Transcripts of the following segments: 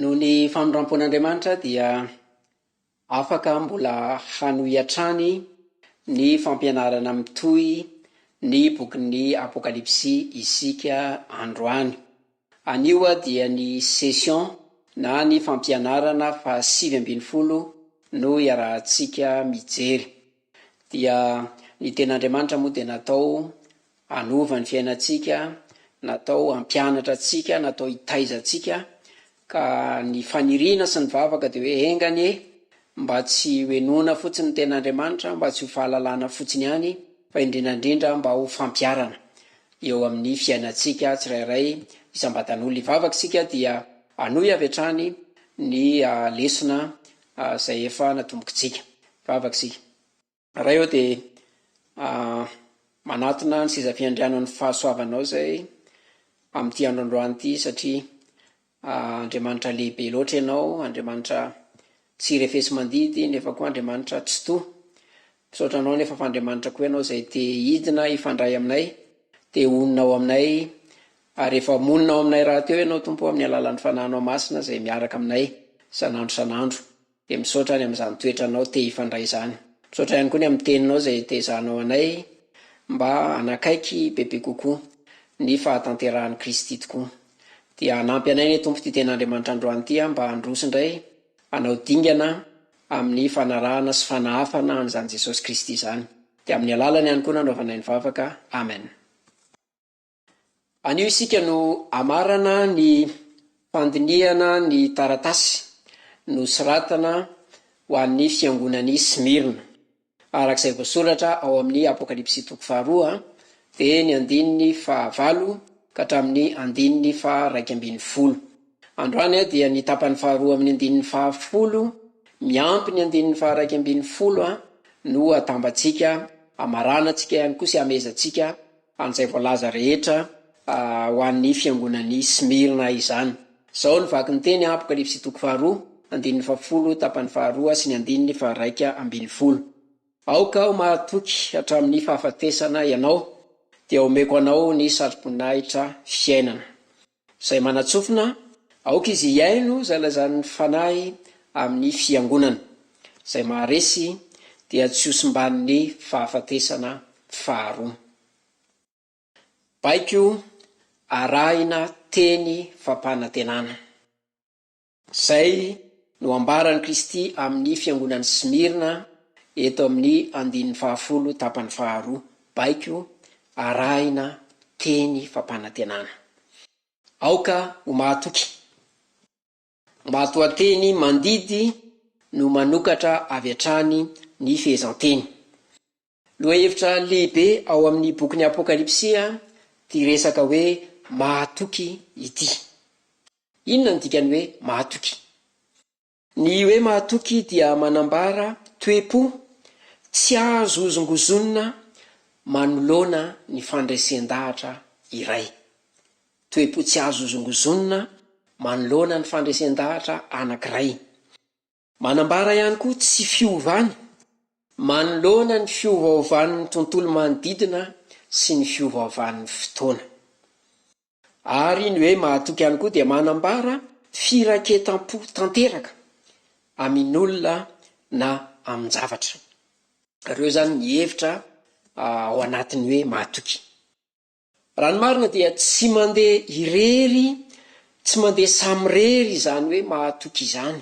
Noho ny famindram-pon'Andriamanitra dia afaka mbola hanohy hatrany ny fampianarana mitohy ny bokin'ny Apokalypsy isika androany. Anio dia ny session na ny fampianarana fahasivy ambin'ny folo no iarahantsika mijery. Dia ny Tenin'Andriamanitra moa dia natao hanova ny fiainantsika, natao hampianatra antsika, natao hitaiza antsika, ka ny faniriana sy ny vavaka dia hoe enga anie mba tsy ho henoina fotsiny ny Tenin'Andriamanitra, mba tsy ho fahalalana fotsiny ihany, fa indrindra indrindra mba ho fampiharana eo amin'ny fiainantsika tsirairay isam-batan'olona. Hivavaka isika dia hanohy avy hatrany ny lesona a zay efa natombokitsika. Vavaka isika. Ray ô dia a manatona ny seza fiandrianan'ny fahasoavanao izay amin'ity andro androany ity satria a Andriamanitra lehibe loatra ianao, Andriamanitra tsy refesi-mandidy nefa koa Andriamanitra tsitoha. Misaotra anao nefa fa Andriamanitra koa ianao izay te hidina hifandray aminay, te honina ao aminay, ary efa monina ao aminay rahateo ianao Tompo amin'ny alalan'ny Fanahinao Masina izay miaraka aminay isan'andro isan'andro, dia misaotra any amin'izany toetra anao te hifandray izany. Misaotra ihany koa ny amin'ny Teninao izay itezahanao anay mba hanakaiky bebe kokoa ny fahatanterahan'i Kristy tokoa. Dia hanampy anay anie Tompo ity Ten'Andriamanitra androany ity mba handroso indray hanao dingana amin'ny fanarahana sy fanahafana an'izany Jesosy Kristy izany. Dia amin'ny alalany ihany koa nanaovanay ny vavaka. Amen. Anio isika no hamarana ny fandinihana ny taratasy nosoratana ho an'ny fiangonan'i Smyrna. Araka izay voasoratra ao amin'ny Apokalypsy toko faharoa dia ny andininy fahavalo ka hatramin'ny andininy faha raika ambin'ny folo. Androany dia ny tapany faharoa amin'ny andininy fahafolo miampy ny andininy faha raika ambin'ny folo no atambatsika, amaranantsika ihany koa sy amezantsika an'izay voalaza rehetra ho an'ny fiangonan'i Smyrna izany. Izao no vaky ny teny, Apokalypsy toko faharoa, andininy fahafolo, tapany faharoa sy ny andininy faharaika ambin'ny folo. Aoka ho mahatoky hatramin'ny fahafatesana ianao, dia omeko anao ny satroboninahitra fiainana. Izay manatsofina, aoka izy hihaino izay lazain'ny Fanahy amin'ny fiangonana. Izay maharesy dia tsy hosimban'ny fahafatesana faharoa. Baiko arahina teny fampanantenana. Izay no ambaran'i Kristy amin'ny fiangonan'i Smirna eto amin'ny andininy fahafolo tapany faharoa, baiko arahina teny fampanantenana. Aoka ho mahatoky, ho matoanteny mandidy no manokatra avy hatrany ny fehezanteny. Lohahevitra lehibe ao amin'ny bokin'ny Apokalypsy ity resaka hoe mahatoky ity. Inona no dikan'ny hoe mahatoky? Ny hoe mahatoky dia manambara toe-po tsy azo hozongozonina manoloana ny fandresen-dahatra iray. Toe-po tsy azo hozongozonina manoloana ny fandresen-dahatra anankiray. Manambara ihany koa tsy fiovany manoloana ny fiovaovan'ny tontolo manodidina sy ny fiovaovan'ny fotoana. Ary ny hoe mahatoky ihany koa dia manambara firaketam-po tanteraka amin'olona na amin-javatra. Ireo izany ny hevitra ao anatin'ny hoe mahatoky. Raha ny marina dia tsy mandeha irery, tsy mandeha samirery izany hoe mahatoky izany,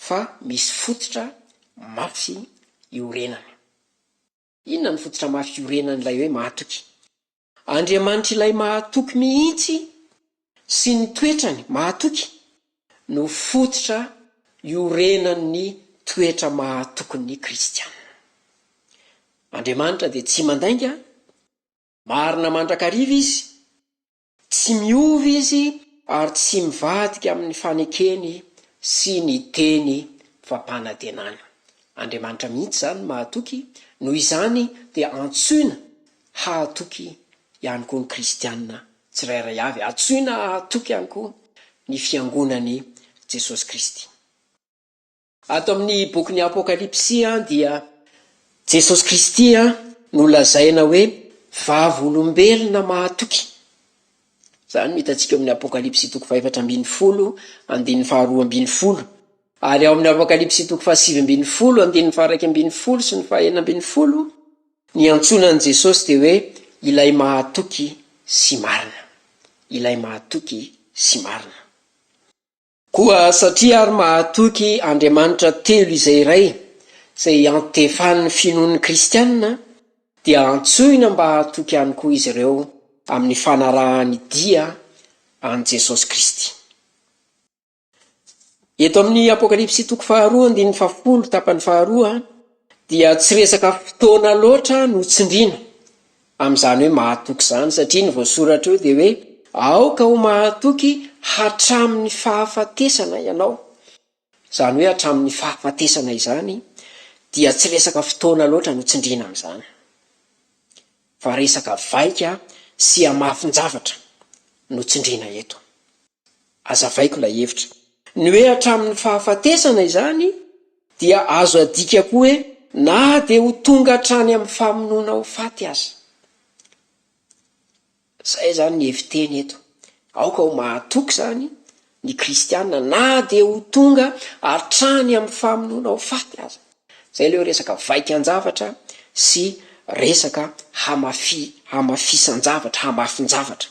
fa misy fototra mafy iorenana. Inona ny fototra mafy iorenan'ilay hoe mahatoky? Andriamanitr'ilay mahatoky mihitsy sy ny toetrany mahatoky no fototra iorenan'ny toetra mahatokin'ny kristiana. Andriamanitra dia tsy mandainga, marina mandrakariva Izy, tsy miova Izy ary tsy mivadika amin'ny fanekeny sy ny teny fampanantenany. Andriamanitra mihitsy izany mahatoky, noho izany dia antsoina Hahatoky ihany koa ny Kristianina tsirairay avy. Antsoina hahatoky ihany koa ny Fiangonan'i Jesosy Kristy. Ato amin'ny bokin'ny Apokalypsy dia Jesosy Kristy no lazaina hoe vavolombelona mahatoky. Izany no hitantsika ao amin'ny Apokalypsy toko fahefatra ambin'ny folo, andininy faharoa ambin'ny folo. Ary ao amin'ny Apokalypsy toko fahasivy ambin'ny folo, andininy faharaika ambin'ny folo sy ny fahenina ambin'ny folo, Ny antsoina an'i Jesosy dia hoe Ilay Mahatoky sy Marina. Ilay Mahatoky sy Marina. Koa satria àry mahatoky Andriamanitra telo izay iray, izay iantefan'ny finoan'ny kristiana, dia antsoina mba hahatoky ihany koa izy ireo amin'ny fanarahan'ny dia an'i Jesosy Kristy. Eto amin'ny Apokalypsy toko faharoa andininy fahafolo tapany faharoa dia tsy resaka fotoana loatra no tsindriana amin'izany hoe mahatoky izany satria ny voasoratra eo dia hoe aoka ho mahatoky hatramin'ny fahafatesana ianao. Izany hoe hatramin'ny fahafatesana izany dia tsy resaka fotoana loatra no tsindriana amin'izany. fa resaka vaika sy hamafin-javatra no tsindriana eto. Azavaiko ilay hevitra. Ny hoe hatramin'ny fahafatesana izany dia azo adika koa hoe na dia ho tonga hatrany amin'ny famonoana ho faty aza. Izay izany ny hevi-teny eto. Aoka ho mahatoky izany Ny kristiana na dia ho tonga hatrany amin'ny famonoana ho faty aza. Izay ilay hoe resaka vaikan-javatra sy resaka hamafi, hamafisan-javatra, hamafin-javatra.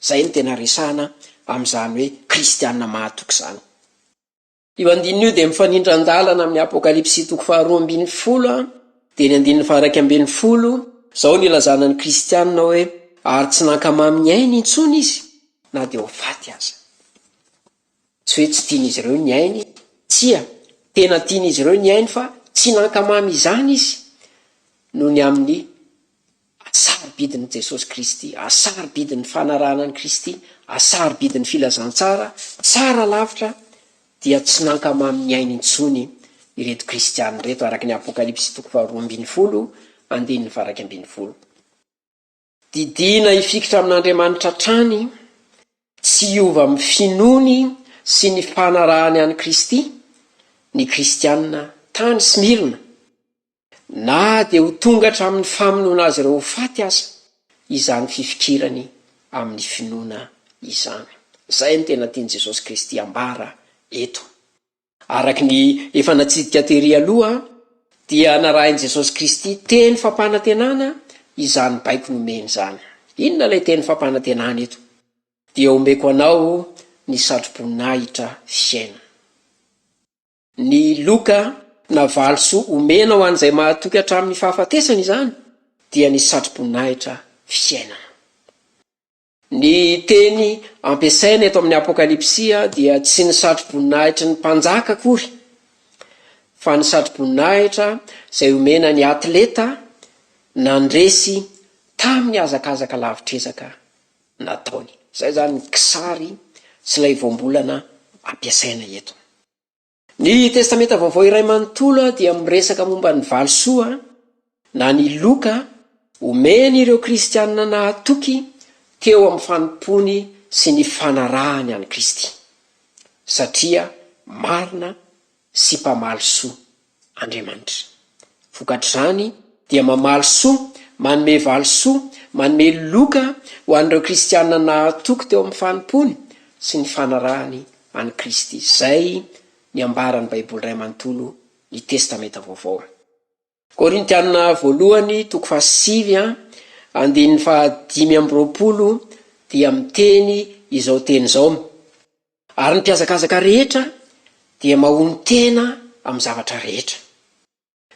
Izay no tena resahana amin'izany hoe kristiana mahatoky izany. Io andininy io dia mifanindran-dalana amin'ny Apokalypsy toko faharoa ambin'ny folo, dia ny andininy faha-iraika ambin'ny folo. Izao no ilazana ny kristiana hoe, ary tsy nankamamy ny ainy intsony izy, na dia ho faty aza. Tsy hoe tsy tian'izy ireo ny ainy izy, tsia, tena tian'izy ireo ny ainy fa tsy nankamamy izany izy noho ny amin'ny hasarobidin'i Jesosy Kristy, hasarobidin'ny fanarahana an'i Kristy, hasarobidin'ny filazantsara tsara lavitra dia tsy nankamamy ny ainy intsony ireto kristiana ireto araka ny Apokalypsy toko faharoa ambin'ny folo andininy faha iraika ambin'ny folo. Didiana hifikitra amin'Andriamanitra hatrany, tsy hiova amin'ny finoany sy ny fanarahany an'i Kristy, ny Kristianina tany Smyrna, na dia ho tonga hatramin'ny famonoana azy ireo ho faty aza izany fifikirany amin'ny finoana izany. Izay no tena tian'i Jesosy Kristy ambara eto. Araka ny efa natsidika tery aloha dia narahin'i Jesosy Kristy teny fampanantenana izany baiko nomeny izany. Inona ilay teny fampanantenana eto? Dia omeko anao ny satroboninahitra fiainana. Ny loka na valisoa omena ho an'izay mahatoky hatramin'ny fahafatesana izany dia ny satroboninahitra fiainana. Ny teny ampiasaina eto amin'ny Apokalypsy dia tsy ny satroboninahitry ny mpanjaka akory, fa ny satroboninahitra izay omena ny atleta nandresy tamin'ny hazakazaka lavitr'ezaka nataony. Izay izany ny kisary sy ilay voambolana ampiasaina eto. Ny Testamenta Vaovao iray manontolo dia miresaka momba ny valisoa, na ny loka, omeny ireo Kristianina nahatoky teo amin'ny fanompoany sy ny fanarahany an'i Kristy, satria marina sy mpamalisoa Andriamanitra. Vokatr'izany dia mamaly soa, manome valisoa, manome loka ho an'ireo kristiana nahatoky teo amin'ny fanompoany sy ny fanarahany an'i Kristy. Izay ny ambaran'ny Baiboly iray manontolo, ny Testamenta Vaovao a. Korintiana Voalohany, toko fahasivy a, andininy fahadimy amby roapolo dia miteny izao teny izao, Ary ny mpihazakazaka rehetra dia mahonon-tena amin'ny zavatra rehetra.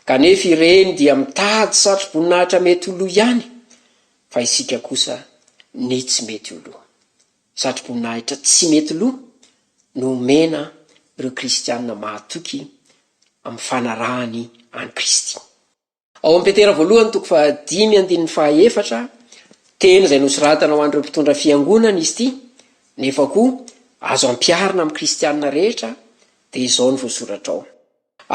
Kanefa ireny dia mitady satroboninahitra mety ho lo ihany, fa isika kosa ny tsy mety ho lo. Satroboninahitra tsy mety lo no omena ireo kristiana mahatoky amin'ny fanarahany an'i Kristy. Ao amin'ny Petera voalohany toko fahadimy andininy fahaefatra, teny izay nosoratana ho an'ireo mpitondra fiangonana izy ity, nefa koa azo ampiharina amin'ny kristiana rehetra, dia izao no voasoratra ao,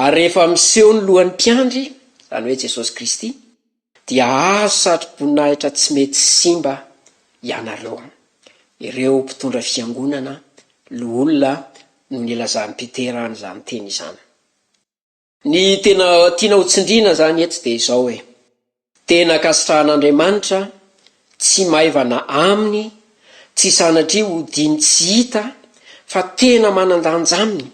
Ary rehefa miseho ny lohan'ny mpiandry, izany hoe Jesosy Kristy, dia hahazo satroboninahitra tsy mety simba ianareo. Ireo mpitondra fiangonana, loholona, no nilazan'i Petera an'izany teny izany. Ny tena tiana ho tsindriana izany eto dia izao hoe, tena ankasitrahan'Andriamanitra, tsy maivana Aminy, tsy sanatria hodiany tsy hita fa tena manan-danja aminy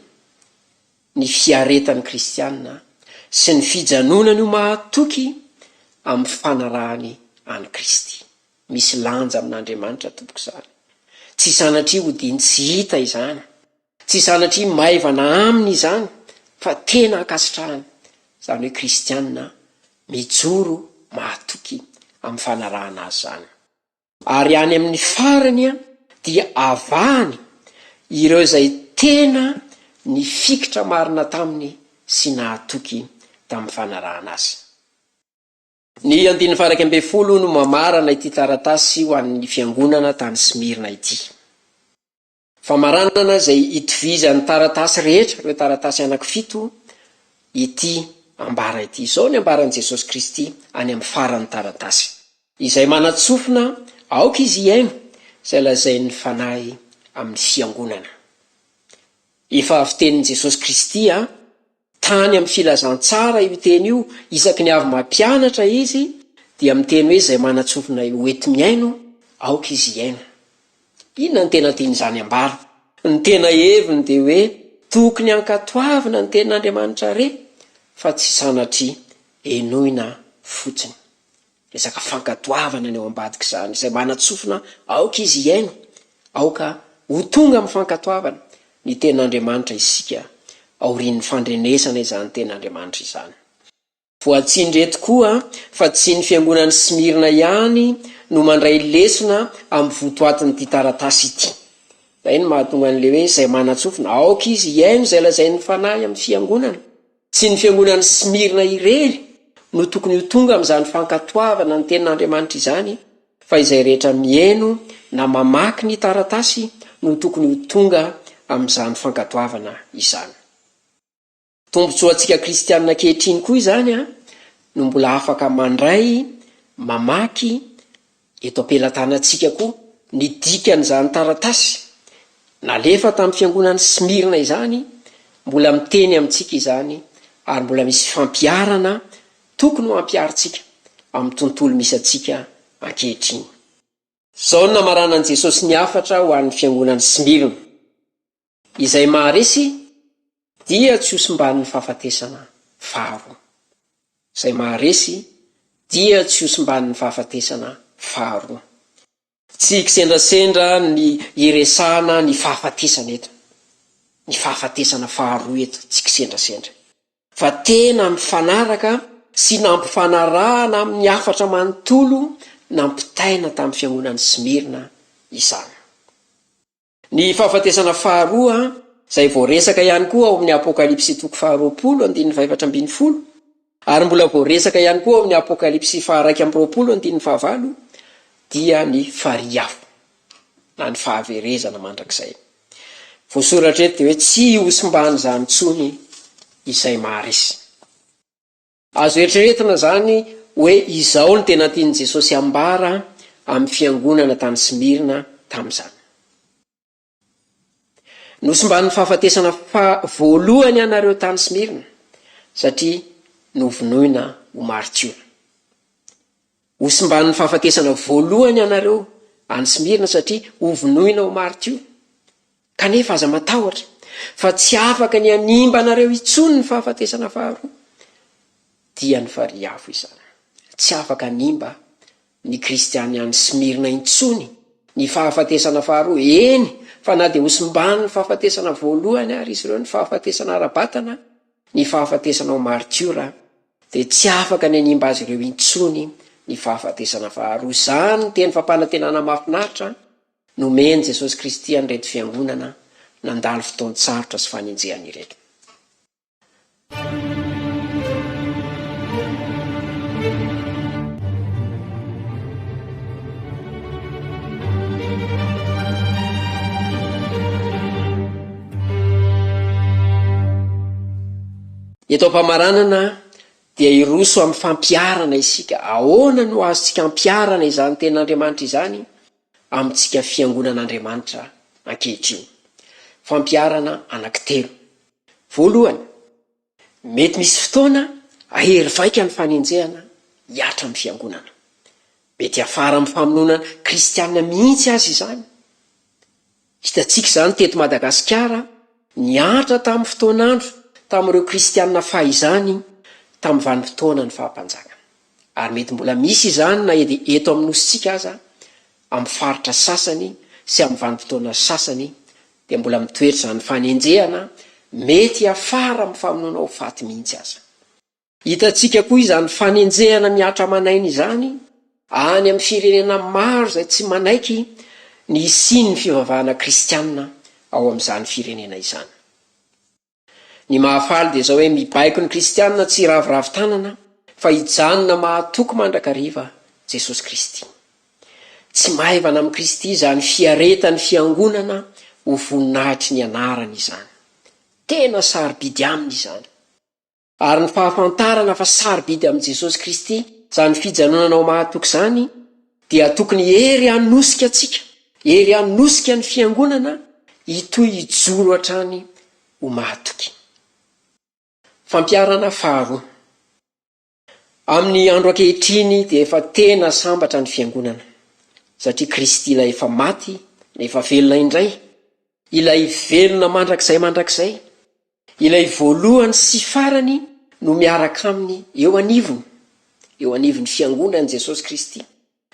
ny fiaretan'ny kristiana sy ny fijanonany ho mahatoky amin'ny fanarahany an'i Kristy. Misy lanja amin'Andriamanitra tompoko izany. Tsy sanatria hodiany tsy hita izany. Tsy sanatria maivana aminy izany fa tena ankasitrahany, izany hoe kristiana mijoro mahatoky amin'ny fanarahana azy izany. Ary any amin'ny farany dia avahany ireo izay tena nifikitra marina taminy sy nahatoky tamin'ny fanarahana azy. Ny andininy faha iraika ambin'ny folo no mamarana ity taratasy ho an'ny fiangonana tany Smyrna ity. Famaranana izay itovizan'ny taratasy rehetra, ireo taratasy anankifito, ity ambara ity. Izao ny ambaran'i Jesosy Kristy any amin'ny faran'ny taratasy. Izay manan-tsofina, aoka izy hihaino izay lazain'ny Fanahy amin'ny fiangonana. Efa avy tenin'i Jesosy Kristy an! Tany amin'ny Filazantsara io teny io, isaky ny avy mampianatra izy dia miteny hoe izay manatsofinay ho enti-mihaino, aoka izy hihaino. Inona no tena tian'izany ambara? Ny tena heviny dia hoe tokony hankatoavina ny tenin'Andriamanitra re fa tsy sanatria henoina fotsiny. Resaka fankatoavana ny ao ambadik'izany, izay manatsofina aoka izy hihaino, aoka ho tonga amin'ny fankatoavana ny Tenin'Andriamanitra isika aorian'ny fandrenesana izany Tenin'Andriamanitra izany. Voatsindry eto koa fa tsy ny Fiangonan'i Smyrna ihany no mandray lesona amin'ny votoatin'ity taratasy ity. Izay no mahatonga an'ilay hoe izay manatsofina, aoka izy hihaino izay lazain'ny Fanahy amin'ny Fiangonana. Tsy ny fiangonan'i Smyrna irery no tokony ho tonga amin'izany fankatoavana ny Tenin'Andriamanitra izany, fa izay rehetra mihaino na mamaky ny taratasy no tokony ho tonga amin'izany fankatoavana izany. Tombontsoantsika kristiana ankehitriny koa izany no mbola afaka mandray, mamaky, Eto am-pelatanantsika koa ny dikan'izany taratasy nalefa tamin'ny fiangonan'i Smyrna izany, mbola miteny amintsika izany ary mbola misy fampiharana tokony ho ampiharintsika amin'ny tontolo misy antsika ankehitriny. Izao no namaranan'i Jesosy ny hafatra ho an'ny fiangonan'i Smyrna. Izay maharesy dia tsy hosimbanin'ny fahafatesana faharoa. Izay maharesy dia tsy hosimbanin'ny fahafatesana faharoa. Tsy kisendrasendra ny hiresahana ny fahafatesana eto, ny fahafatesana faharoa eto, tsy kisendrasendra. Fa tena mifanaraka sy nampifanarahana amin'ny hafatra manontolo nampitaina tamin'ny fihaonan'i Smyrna izany. Ny fahafatesana faharoa, izay voaresaka ihany koa ao amin'ny Apokalypsy toko faharoapolo andininy fahaefatra ambin'ny folo, ary mbola voaresaka ihany koa ao amin'ny Apokalypsy faharaika amby roapolo andininy fahavalo, dia ny farihy afo, na ny fahaverezana mandrakizay. Voasoratra eto dia hoe tsy hosimban'izany intsony izay maharesy. Azo eritreretina izany hoe izao no tena tian'i Jesosy hambara amin'ny fiangonana tany Smyrna tamin'izany, Nosimban'ny fahafatesana faha voalohany ianareo tany Smyrna, satria novonoina ho maritiora. Ho simban'ny fahafatesana voalohany ianareo any Smyrna satria ho vonoina ho maritio. Kanefa aza matahotra, fa tsy afaka ny hanimba anareo intsony ny fahafatesana faharoa. Dia ny farihy afo izany. Tsy afaka hanimba ny kristiana any Smyrna intsony ny fahafatesana faharoa, eny fa na dia ho simban'ny fahafatesana voalohany ary izy ireo, ny fahafatesana ara-batana, ny fahafatesana ho maritiora, dia tsy afaka ny hanimba azy ireo intsony ny fahafatesana faharoa. Izany no teny fampanantenana mahafinaritra nomen'i Jesosy Kristy an'ireto fiangonana nandalo fotoan-tsarotra sy fanenjehana ireto. Eto am-pamaranana dia hiroso amin'ny fampiharana isika. Ahoana no azontsika ampiharana izany Tenin'Andriamanitra izany amintsika fiangonan'Andriamanitra ankehitriny? Fampiharana anankitelo. Voalohany, mety misy fotoana hahery vaika ny fanenjehana hihatra amin'ny fiangonana. Mety hiafara amin'ny famonoana Kristianina mihitsy aza izany. Hitantsika izany teto Madagasikara niaritra tamin'ny fotoan'andro tamin'ireo kristiana fahizany tamin'ny vanim-potoana ny faha-mpanjaka. Ary mety mbola misy izany na edy eto amin'ny Nosintsika aza amin'ny faritra sasany sy amin'ny vanim-potoana sasany dia mbola mitoetra izany fanenjehana mety hiafara amin'ny famonoana ho faty mihitsy aza. Hitantsika koa izany fanenjehana mihatra aman'aina izany any amin'ny firenena maro izay tsy manaiky ny hisian'ny fivavahana kristiana ao amin'izany firenena izany. Ny mahafaly dia izao hoe mibaiko ny kristiana tsy hiraviravy tanana fa hijanona mahatoky mandrakariva Jesosy Kristy. Tsy maivana amin'i Kristy izany fiaretan'ny fiangonana ho voninahitry ny anarany izany. Tena sarobidy aminy izany. Ary ny fahafantarana fa sarobidy amin'i Jesosy Kristy izany fijanonana ho mahatoky izany dia tokony hery hanosika antsika, hery hanosika ny Fiangonana hitohy hijoro hatrany ho mahatoky. Fampiharana faharoa. Amin'ny andro ankehitriny dia efa tena sambatra ny Fiangonana, satria Kristy ilay efa maty nefa velona indray, ilay velona mandrakizay mandrakizay, Ilay voalohany sy farany no miaraka Aminy eo anivony, eo anivon'ny Fiangonany Jesosy Kristy,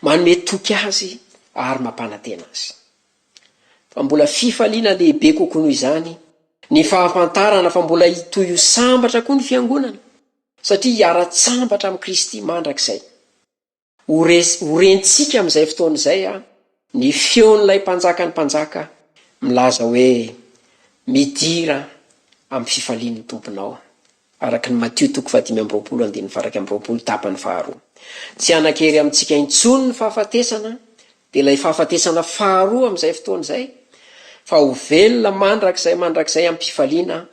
manome toky Azy ary mampanantena Azy. Fa mbola fifaliana lehibe kokoa noho izany ny fahafantarana fa mbola hitohy ho sambatra koa ny Fiangonana, satria hiara-tsambatra amin'i Kristy mandrakizay. Ho resy, ho rentsika amin'izay fotoana izay an, ny feon'ilay Mpanjakan'ny mpanjaka milaza hoe, Midira amin'ny fifalian'ny Tomponao an! araka ny Matio toko fahadimy amby roapolo andininy faharaika amby roapolo tapany faharoa. Tsy hanan-kery amintsika intsony ny fahafatesana, dia ilay fahafatesana faharoa amin'izay fotoana izay, fa ho velona mandrakizay mandrakizay am-pifaliana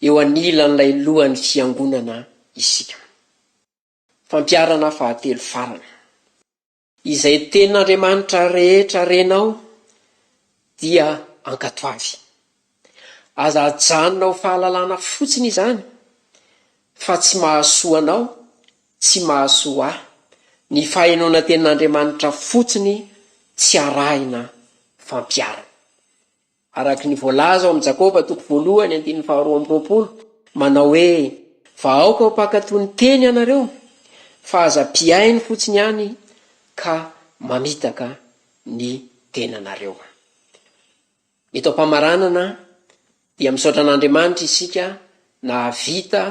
eo anilan'ilay Lohan'ny Fiangonana isika. Fampiharana fahatelo farany. Izay Tenin'Andriamanitra rehetra renao dia ankatoavy. Aza ajanona ho fahalalana fotsiny izany, fa tsy mahasoa anao, tsy mahasoa ahy. Ny fahenoana Tenin'Andriamanitra fotsiny tsy arahina fampiharana. Araka ny voalaza ao amin'ny Jakoba toko voalohany andininy faharoa amby roapolo, manao hoe, Fa aoka ho mpankatò ny teny ianareo, fa aza mpihaino fotsiny ihany ka mamitaka ny tenanareo. Eto am-pamaranana dia misaotra an'Andriamanitra isika nahavita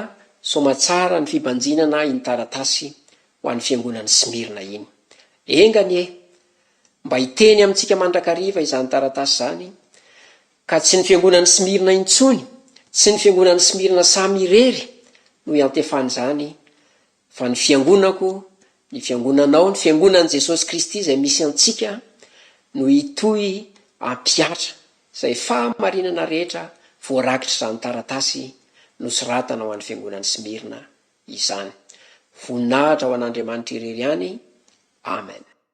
soamatsara ny fibanjinana iny taratasy ho an'ny fiangonan'i Smirna iny. Enga anie Mba hiteny amintsika mandrakariva izany taratasy izany, ka tsy ny fiangonan'i Smyrna intsony, tsy ny fiangonan'i Smyrna samy irery no iantefany izany, fa ny fiangonako, ny fiangonanao, ny fiangonan'i Jesosy Kristy izay misy antsika no hitohy hampihatra izay fahamarinana rehetra voarakitr'izany taratasy nosoratana ho an'ny fiangonan'i Smyrna izany. Voninahitra ho an'Andriamanitra irery ihany. Amen.